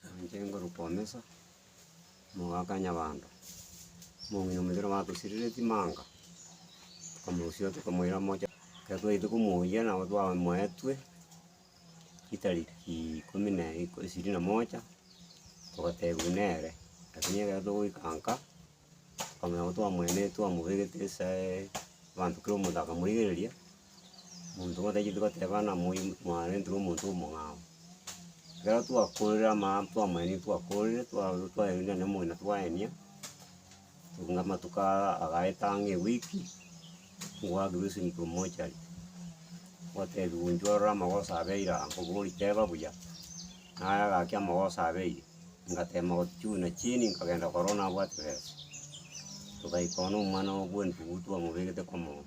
Nainche ngoruka omesa, omogaka nyabando, omong'ina omochenu obatosirire chimanga, tokamorusia tokamoira mocha. Ekero twachete komoiyia nabo twamoetwe ritariki ikomi na ishirini na moja, togatebiwa nere, lakini ekero togoika nka. Okonya nabo twamweene twamobegete esae, abanto kera omonto akamoigereria, omonto batachieti goteba ng'a moyo mwarenterwe omonto omong'ao. Ekero twakorire amaabera twamweenie twakorire twaru twaeirwe nonye omogina twaenia, tokong'e amatuko aya agaeta ang'e ewiki, ngwakirwe ase intwe mochari, gwatebiwa inche ororo amagoso abeire aa, nkobori teba buya, naye agaki amagoso abeire. Ngateema gochiuna chini, nkagenda korwa one abwate besa. Togaika one omwana oye bw'entugutu twamobegete komoyo,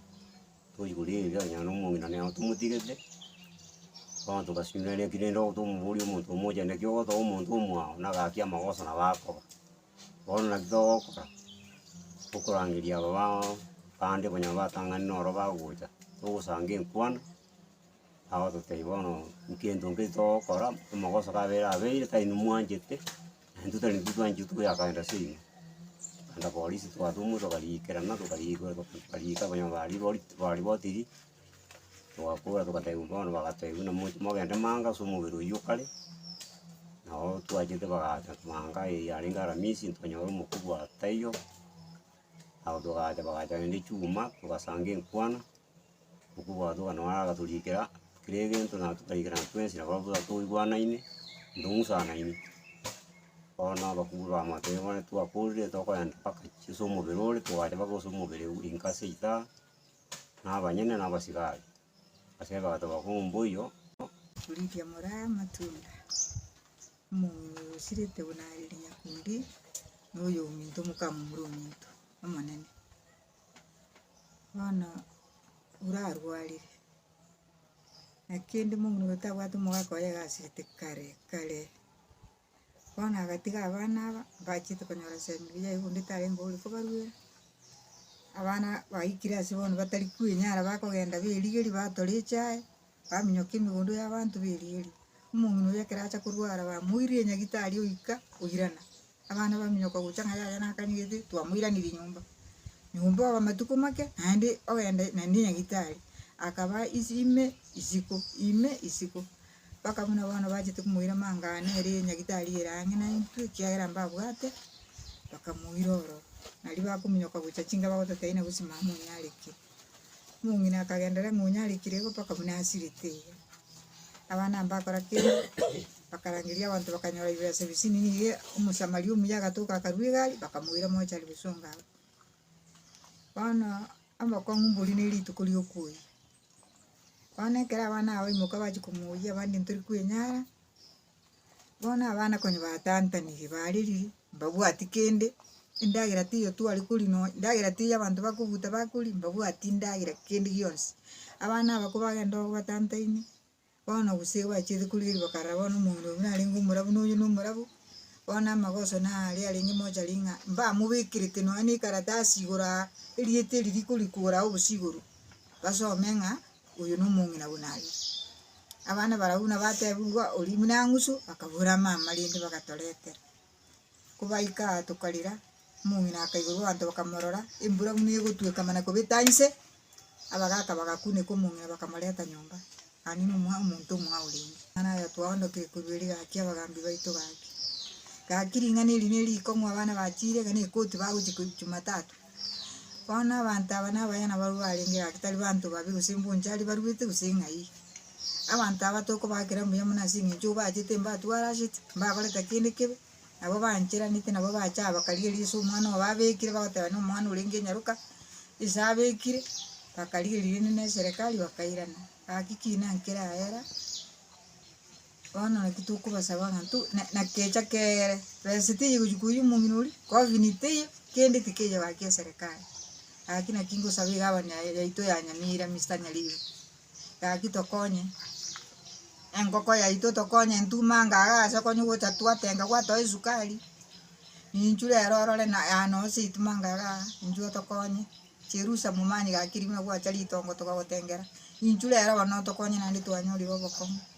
tochi koria erio onye na omong'ina nere tomotigete, bono togasinyora ere ekero rende tomoboria omonto omoche naki ogotoba omonto omwao na gaki amagoso nabo akoba. Bono naki togokora, tokorangeria aba bande konya batang'ani noro bagocha, togosanga enkwana. Agototebia bono nkento nki togokora, amagoso kabere abeire tari inwe mwanchete, na intwe tari intwe twanchire tokoyakaenda ase inwe. Naende apolisi twatoma tokariikerana tokariigwera tokariika abanyama baria bori baria botiri, togakora togatebiwa bono bagatebia buna moche mogende manga ase omobere oywo o kare, nabo twachete bagacha manga eye yarenge aramisi ntonyore omoku bwa taiyo, nabo togacha bagacha rende chuma, togasanga enkwana. okobwatoka nonya agatorikera kera egento na totaikera na twensi nabo abwo toigwanaine, tong'usanaine. Bono abakubwa bamotebia bono twakorire tokoyenda mpaka chie ase omobere ore, togachia mpaka ase omobere o inka ase ita, na abanyene na abasigari. Ase ebagato bakong'u mboiyo. Korigia moraya amatunda, mosirete buna are ere nyakundi, na oyominto mokamomura ominto, omonene. Bono orarwarire, naki kende omong'ina oyo tabwati omogaka oye agasirete kare kare, bono agatiga abana aba, mbachete konyora chemibiri yaye bonde tarenge ore kobaruera, abana baikire ase bono batari kwenyara bakogenda berigeria batora echae. Baminyoka emegondo y'abanto b'erieri. Omong'ina oria ekero acha korwara bamoiririe nyagitari oika oirana. Abana baminyoka gocha ng'a yaya nakanyigete twamoiranirie nyomba. Nyomba oba matuko make naende ogenda naende nyagitari. Akaba isi ime isiko, ime isiko. Mpaka buna bono bachete komoira mang'ana ere nyagitari ere ang'e naintwe ekiagera mbabwate, bakamoira oro. Nari bakominyoka gocha chinga bagototaina gose mama onyareke. Omong'ina akagendera eng'onye arikire igo mpaka buna asirete iga. Abana mbakora ki? Bakarangeria abanto bakanyora bibesa bisini nigo Omosamaria omuya agatoka akarua egari bakamoira mochari gosonga abwo. Bono abakong'u mbori ne rituko riokoiyia. Bono ekero abana aba baimoka bachia komoiyia abande ntori kwenyara. Bono abana konya batantaniri bariri mbabwati kende, endagera teiyo twari kori nonya, endagera teiyo abanto bakobuta bakori mbabwati endagera kende gionsi. Abana aba kobagenda ororo batantaini, bono gose igo bachiete korigereria bakarora bono omong'ina oyo buna arenge omorabu na oyo nomorabu, bono amagoso na aria arenge mochari ng'a mbamobekerete nonya na ekaratasi igoro aa, erieta eri rikori kora aa obosio igoro, basome ng'a. Oyo nomong'ina buna aye. Abana barabwo buna batebigwa oria buna ang'usu akabora mama rende bagatoretera. Kobaika aa tokarira, omong'ina akaigorwa abanto bakamorora, embura buna egotweka mana kobeta inse, abagaka bagakuneka omong'ina bakamoreta nyomba. Aa nigo omwa omonto omwao renge. Mana aya twaondokire korwa ere gaki abagambi baito gaki. Gaki ring'ana eri nerikong'u abana bachire iga nekoti bagochia ko Jumatatu. Bono abanto aba nabayana barwa barenge gaki tari banto babi gose mbunchari barwete gose ng'ai. Abanto aba tokobakera mbuya mono ase eng'encho obachete mbatwarasete, mbakorete kende kebe, nabo bancheranete nabo bacha bakarigereria ase omwana obo babekire bagoteba na omwana orenge nyaroka, ase abekire, bakarigereria rende na eserekari bakairana. Gaki ki nankere aera. Bono naki tokobasaba ng'a nto, na, na kecha kere, besa teiyo gochia koiyia omong'ina oria, kofini teiyo, kende tikeiyo gaki eserekari. Gaki naki ngosaba egabani ya- yaito ya Nyamira, Mister Nyaribo, gaki tokonye, enkoko yaito tokonye ntuma anga iga ase okonya gocha twatenga gwatoa esukari, ninchu rero orore na yaya noo ase erituma anga iga, inchu otokonye, chirusa momanyigaki rimo nagwacha ritongo tokagotengera, inchu rero bono otokonye naende twanyorire obokong'u.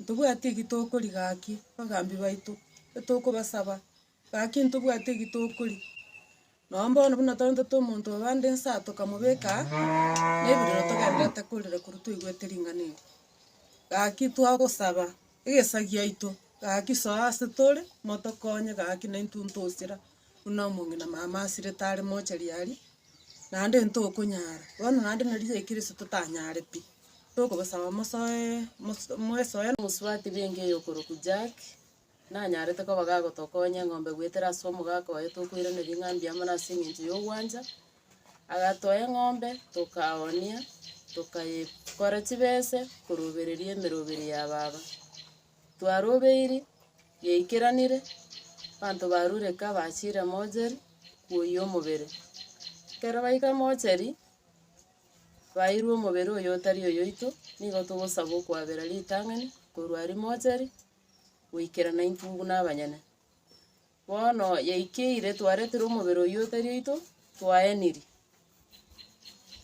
Ntobwati eki tokori gaki bagambi baito, etokobasaba gaki ntobwati eki tokori. Noo bono buna twarentete omonto obo ande nsa tokamobeka nebirero togendererete korera korwa twaigwete ring'ana erio. Gaki twagosaba egesa giaito gaki soa ase tore motokonye gaki naintwe ntosira. buna omong'ina mama asirete are mochari aria, naende ntokonyara, bono naende nari chikirisi totanyare pi, tokobasaba mosoe mos- mwesoe. Omosubati bw'enka eye okorokwa Jack, nanyarete koba gagotokonya eng'ombe goetera ase omogaka oye tokoirana ring'a mbuya mono ase eng'encho ya ogwancha, agatoa eng'ombe tokaoonia, tokaye kora chibese korobereria emeroberi ya baba. Twarobeiri yaikeranire, abanto barureka bachire mocheri kwoyia omobere. Ekero baika mocheri, bairwe omobere oyo otari oyoito, nigo togosaba okoabera ritang'ani korwa aria mocheri, goikerana intwe buna abanyene. Bono yaikeire, twaretire omobere oyio otari oito, twaenirie.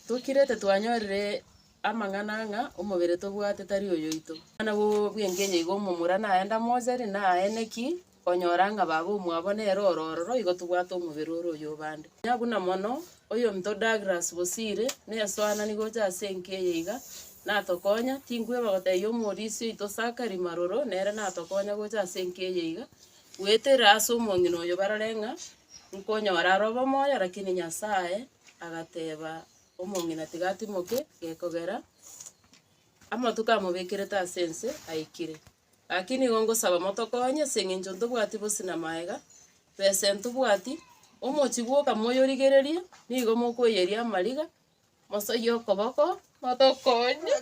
Tokirete twanyorire amang'ana ng'a omobere tobwate tari oyoito. Buna bw'engencho igo omomura naye ndamoseri, naene ki, onyora ng'a baba omwabo nere oro ororo, igo tobwate omobere ore oy'obande. Onye buna mono, oyominto Douglas Bosire, nesoanani gocha ase enka eye iga, natokonya, tinkweba gotebia omorisia oito Zachary Maroro, nere natokonya gocha ase enka eye iga, Goetera ase omong'ina oyo barore ng'a nkonyora are obomoyo, lakini Nyasae agateba omong'ina tigatimoke, gekogera amatuko amobekerete ase ense aikire. Lakini igo ngosaba motokonye ase eng'encho ntobwati bosi na maega, besa entobwati, omochie bwoka moyorigererie, nigo mokoyeria amariga. Mosoyie okoboko, motokonye.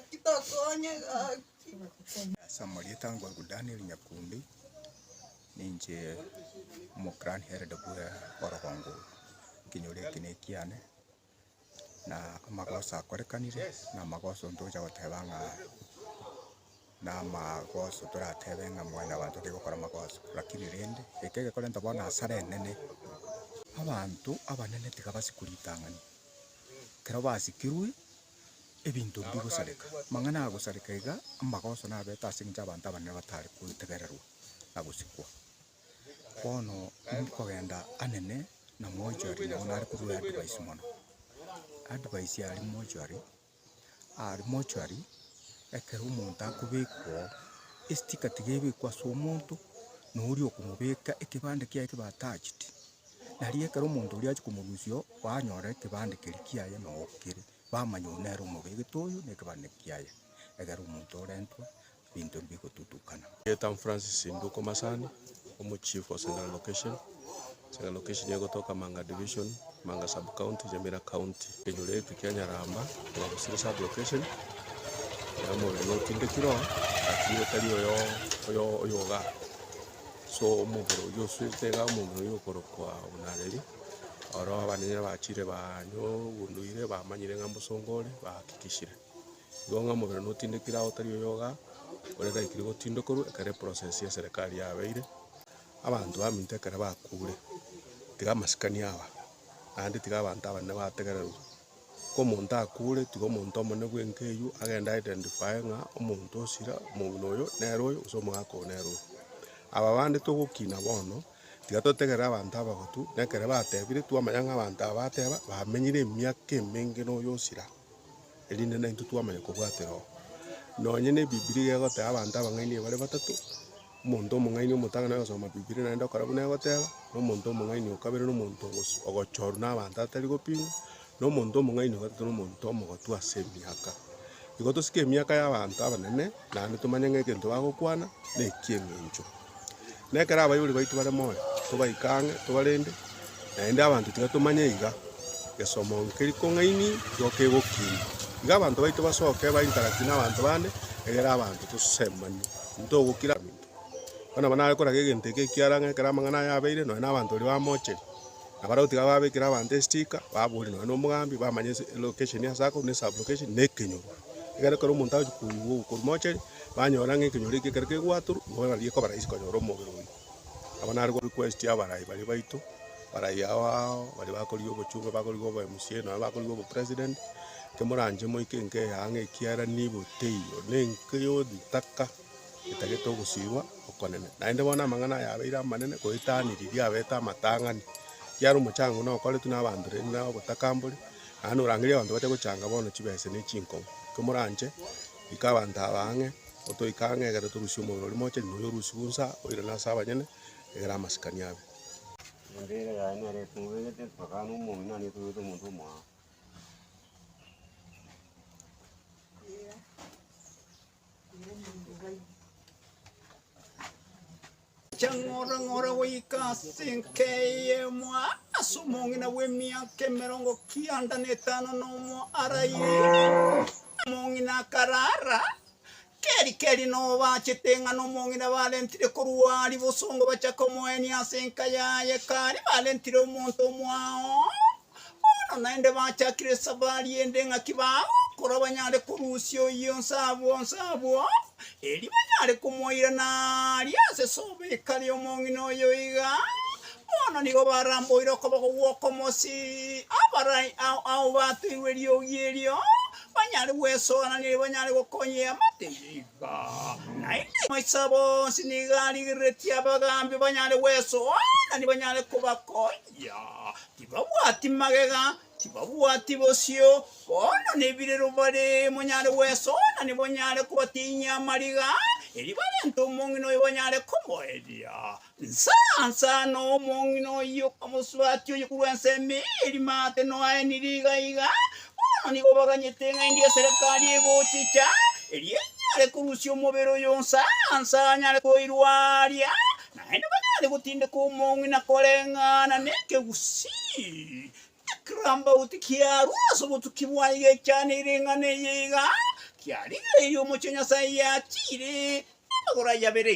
Ase amarieta ango agwo Daniel Nyakundi, ninche omoclan hered bwe orogongo oro. Ekenyoro eke nekiane, na amagoso akorekanire, na amagoso ntocha goteba ng'a. Namagoso toratebe ng'a Mwanyabanto tari gokora amagoso, lakini rende eke egekorenta bono asare enene, abanto abanene tigabasi koritang'ani, ekero basikirwe ebinto mbigosareka. Amang'ana agosareka iga amagoso nabete ase eng'encho abanto abanene batare kotegererwa na gosikwa. Bono nkogenda anene na mochwari nabo nare korwa advice mono. Advice aria mochwari. Aria mortuary, ekero omonto akobekwa oo, esticker tiga ebekwe ase omonto na oria okomobeka, ekebande kiaye kibe attached, nario ekero omonto oria achia komorusia oo, banyora ekebande keria kiaye noo kere, bamanya oyo nere omobegete oyo na ekebande kiaye, egere omonto orentwe. binto mbigotutukana. Get am Francis Nduko Masani, Omochief wa Seng'ara Location, Seng'ara Location egotoka Manga Division, Manga Sub-County, Nyamira County. Ekenyoro eke kia Nyaramba oba Busiri Sub-Location ere omorweri otindekire oo lakini otari oyo oyo oyogaa. So omobere oyio osuete igaa omobere oyio okorokwa buna reri oro abanene bachire banywa obonduire bamanyire ng'a mbosongo ore bahakikishire. Igo ng'a omobere notindekire aye otari oyogaa, ore taikire gotindokorwa ekero eprocess ya serikari yabeire. Abanto baminto ekero bakure, tiga amasikani aba, naende tiga abanto abanene bategererwa. Ka omonto akure, tiga omonto omonene bwenka eywo agende a identify ng'a omonto osira, omong'ina oyo nere oyo, gose omogaka oyo nere oyo. Aba bande togokina bono, tiga totegerere abanto abagotu, na ekere batebire, twamanya ng'a abanto aba bateba, bamenyire emiaka emenge na oyo osira. erinde naintwe twamanya kobwatera oo. Nonye na ebibilia egoteba abanto abang'aini bare batato, omonto omong'aini omotang'ani agasoma bibilia naende okora buna egoteba, na omonto omong'aini o kabere na omonto ogosu ogochorwa na abanto atari gopimwa, na omonto omong'aini o gatato na omonto omogotu ase emiaka. Igo tosike emiaka ya abanto abanene, naende tomanye ng'a egento bagokwana na eki'eng'encho. Na ekero abaibori baito bare moyo, tobaike ang'e, tobarende, naende abanto tibatomanya iga gesomo nkeria kong'aini gioka egokiina. Iga abanto baito basoke bainteract nabanto bande, egere abanto tosemani, ntogokira abanto. Bono nabo nare koraga egento eke ekiara ng'a ekero amang'ana aya abeire, nonya nabanto baria bamocheri. Na baria gotiga babekire abanto estika, baboria nonya nomogambi, bamanya ense, elocation ase akorwa, ne sub-location, na ekenyoro. Ekero ekero omonto agochia koigwa ogwo korwa mochari, banyora ng'a ekenyoro eke ekero kegwatorwa, nigo nari ekoba rahisi konyora omobere oyio. Aba naro request y'abarai baria baito, barai ao ao, baria bakorigia obochunge, bakorigia obo mca, nonya bakorigia obo president, inche moranche moike nkeya ang'e ekiagera nigo teiyo, na enke yonsi ntaka. etagete ogosiigwa okonene. Naende bono amang'ana aya abeire amanene goetaniri riabete amatang'ani, ekiagera omochango nokoretwe nabanto rende nere obotakambori, naende norangerie abanto bache gochanga bono chibese ne chinkong'u. Komoranche, ika abanto aba ang'e, otoike ang'e egere torusie omobere oria moche, riria oria orusigwe onsi aa, oirane ase abanyene, egere amasikani abe. Embeera yaye nere etobegete, mpakana omong'ina nere etobegete omonto omwabo. Chang'orang'ora goika ase enka eyemo ase omong'ina bw'emiaka emerongo kianda na etano na omo araire. Omong'ina akarara keri keri nobachete ng'a nomong'ina barentire korwa ari bosongo bacha komoenia ase enka yaye kari barentire omonto omoao Bono naende bachakire esabari ende ng'aki bagokora banyare korusia oyio onse abwo onse abwo, erio banyare komoirana aria ase sobo ekare omong'ina oyo iga. Bono nigo baramboire okoboko gw'okomosi abarai ao ao batoirwe eriogi erio, banyare gwesoorania erio banyare gokonyea amatege iga. Naende amaiso abo onsi nigo arigereretie abagaambi banyare gwesoorania banyare kobakonya. Tibabwati magega, tibabwati bosio, bono nebirero bare monyare gwesooria nibonyare kobatinyia amariga, erio barente omong'ina oyo banyare komoeria. Nsa nsa na omong'ina oyio okamoswatia oyio korwa ense emeeri maate noaenire iga iga, bono nigo baganyete ng'aindi eserekari egochicha, erio enyare korusia omobere oyo nsa nsa anyare koirwaria, Naende banyare gotindeka omong'u na koreng'ana nekegusii, ekirambauti kiarwa ase obotuki bwaye giaichaneirie eng'ana eye iga, Kia riire eyio omochie Nyasae yachiire namagoro aye abere.